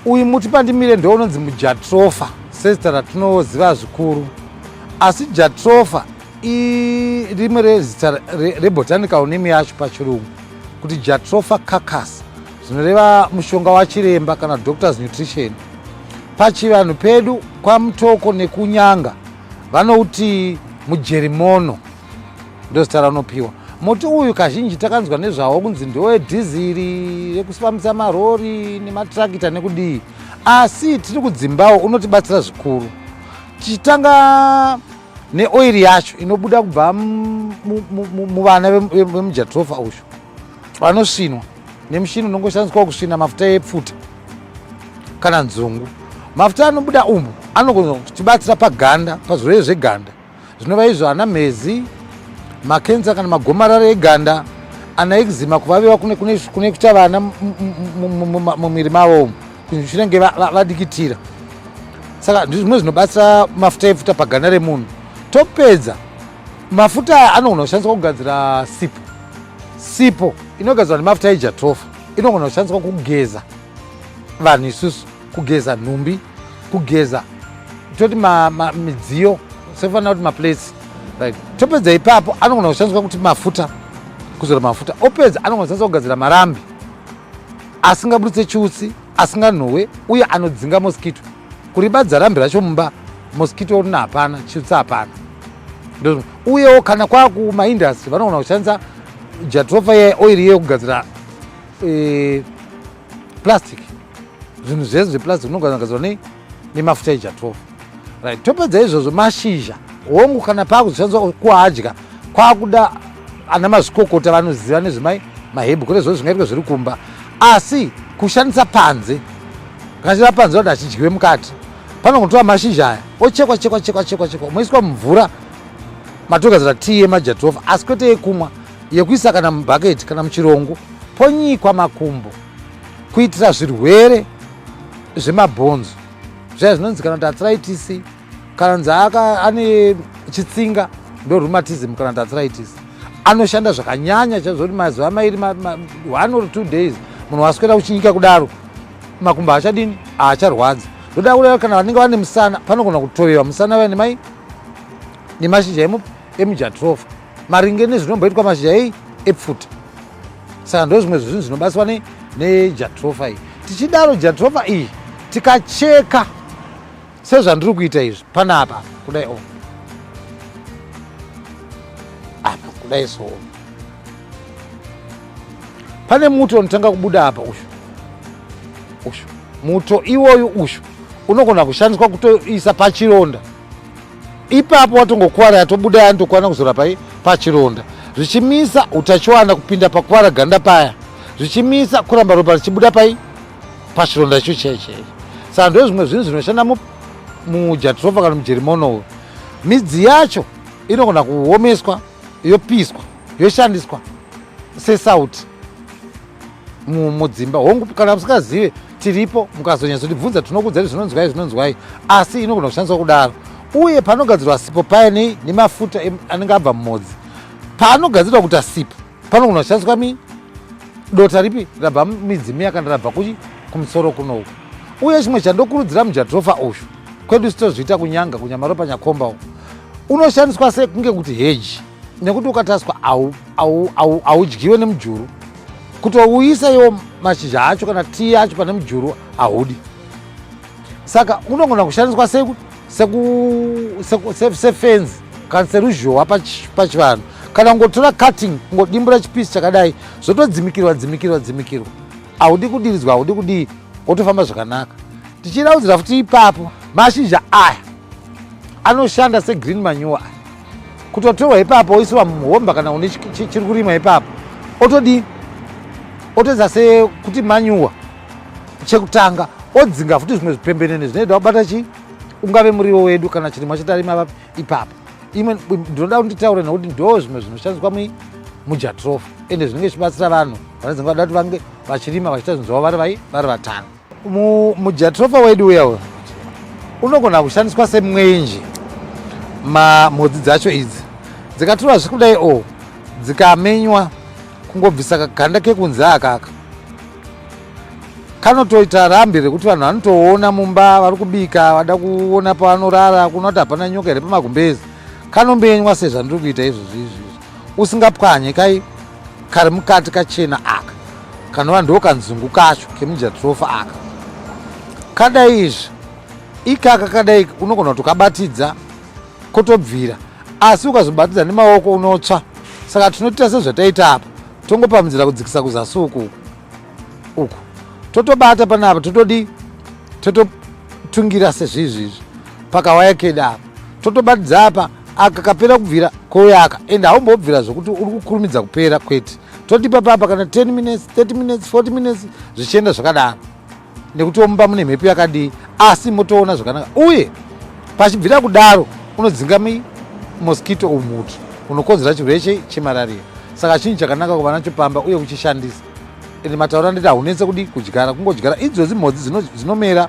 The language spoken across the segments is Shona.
uyu muti pandimire ndounonzi mujatrofa sezita ratinoziva zvikuru asi jatrofa irimwe rezita rebotanical name yacho pachirungu kuti jatrofa carcas zvinoreva mushonga wachiremba kana doctors nutrition pachivanhu pedu kwamutoko nekunyanga vanouti mujerimono ndozita raunopiwa muti uyu kazhinji takanzwa nezvawo kunzi ndowedhiziri rekufambisa marori nematirakita nekudii asi tiri kudzimbawo unotibatsira zvikuru tichitanga neoiri yacho inobuda kubva muvana vemujatrofa uyu vanosvinwa nemushini unongoshandiswa kusvina mafuta epfuta kana nzungu mafuta anobuda umu anogona kutibatsira paganda pazvirwere zveganda zvinova izvo ana mhezi makensa kana magomarara eganda ana ekzima kuvaviwa kune kuta vana mumwiri mavo umu zvinenge vadikitira saka ndizvimwe zvinobatsira mafuta epfuta paganda remunhu topedza Mafuta aya anogona kushandiswa kugadzira sipo. Sipo inogadzirwa nemafuta ejatrofa inogona kushandiswa kugeza vanhu isusu, kugeza nhumbi, kugeza toti midziyo sefana kuti maplates right. Topedza ipapo anogona kushandiswa kuti mafuta, kuzora mafuta. Opedza anogona kushandiswa kugadzira marambi asingaburitse chiutsi, asinganhowe uye anodzinga moskito. Kuribadza rambi racho mumba moskito rina hapana, chiutsi hapana. uyewo kana kwakumaindastry vanogona kushandisa jatrofa ye oiri iye kugadzira e, plastic zvinhu zvese zveplastic unogona kugadzirwa nei nemafuta ejatrofa right topedza izvozvo mashizha hongu kana paakuzoshandiswa kuadya kwakuda ana mazvikokota vanoziva nezvemai mahebhu kune zvo zvingaitwa zviri kumba asi kushandisa panze kashira panze vati achidyiwe mukati Panongotora mashizha aya ochekwa chekwa chekwa chekwa chekwa moiswa mumvura matogadzira tii yemajatirofa asi kwete yekumwa yekuisa kana mubhaketi kana muchirongo ponyikwa makumbo kuitira zvirwere zvemabhonzo zvaya zvinonzi kana kuti athritis kana nzi ane chitsinga ndo rheumatism kana kuti athritis anoshanda zvakanyanya chaizvo kuti mazuva mairi one or two days munhu waswera uchinyika kudaro makumbo haachadini haacharwadza ndoda kureva kana vanenge vane musana panogona kutovewa musana vaya nemai nemashizha emujatrofa maringe nezvinomboitwa mashizha ei epfuta saka ndo zvimwe zvezvinhu zvinobatswa nejatrofa iyi tichidaro jatrofa iyi tikacheka sezvandiri kuita izvi panapa kudai o apa kudai so pane muto unotanga kubuda apa ushu ushu muto iwoyu ushu unogona kushandiswa kutoisa pachironda ipapo watongokuvara yatobuda yanotokwana kuzora pai pachironda zvichimisa utachiwana kupinda pakuvara ganda paya zvichimisa kuramba ropa richibuda pai pachironda icho chaicho saka ndozvimwe zvinhu zvinoshanda mujatrofa kana mujerimono midzi yacho inogona kuomeswa yopiswa yoshandiswa sesauti mudzimba hongu kana musikazive tiripo mukazonyatso tibvunza tinokudzai zvinonzwai zvinonzwai asi inogona kushandiswa kudaro uye panogadzirwa sipo paye nemafuta anenge abva mumodzi paanogadzirwa kuita sipo pano kunoshandiswa mi dota ripi rabva midzimu yakanda rabva kuchi kumusoro kunoku uye chimwe chandokurudzira mujatrofa uyu kwedu sitozviita kunyanga kunyamaropa nyakomba u unoshandiswa sei kunge kuti heji nekuti ukataswa haudyiwe nemujuru kutouyisa iwo mashizha acho kana tii acho pane mujuru haudi saka unogona kushandiswa sei sefenzi kana seruzhowa pachivanhu kana kungotora cutting kungodimbura chipisi chakadai zvotodzimikirwa dzimikirwa dzimikirwa haudi kudiridzwa haudi kudii wotofamba zvakanaka tichiraudzira futi ipapo mashizha aya anoshanda segreen manure aya kutotorwa ipapo oisiwa muhomba kana une chiri kurimwa ipapo otodii otoedza sekuti manyuwa chekutanga odzinga futi zvimwe zvipembenene zvinoita wabata chii ungave muriwo wedu kana chirimwa chetarima vapi ipapo imwe ndinoda kuti nditaure nekuti ndo zvimwe zvinoshandiswa mujatrof ende zvinenge zvichibatsira vanhu vanodzinga vada kuti vange vachirima vachiita zvinhu zvavo vari vai vari vatano mujatrofa wedu uya uyo unogona kushandiswa semwenje mhodzi dzacho idzi dzikatura zvikudai o dzikamenywa kungobvisa kaganda kekunze akaka kanotoita rambi rekuti vanhu vanotoona mumba vari kubika vada kuona pavanorara kuona kuti hapana nyoka here pamagumbezi kanombenywa sezvandiri kuita izvozvi izvizvi usingapwanye kai kari mukati kachena aka kanova ndo kanzungu kacho kemujatrofa aka kadai izvi ikaka kadai unogona kutokabatidza kotobvira asi ukazobatidza nemaoko unotsva saka tinotiita sezvataita apa tongopamudzira kudzikisa kuzasi uku uku uku totobata panapa totodii tototungira sezvizvizvi pakawaya keda apa totobatidza apa aka kapera kubvira koyaka and haumbobvira zvekuti uri kukurumidza kupera kwete totipa papa kana 10 minutes 30 minutes 40 minutes zvichienda zvakadaro nekutiwo mumba mune mhepo yakadii asi motoona zvakanaka uye pachibvira kudaro unodzinga mosquito umutu unokonzera chirwere chemarariya saka chinhu chakanaka kuva nacho pamba uye kuchishandisa ende mataura nditi haunetse kudi kudyara kungodyara idzodzi mhodzi dzinomera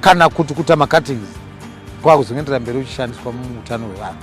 kana kuti kuta macuttings kwakuzongendera mberi uchishandiswa muutano hwevanhu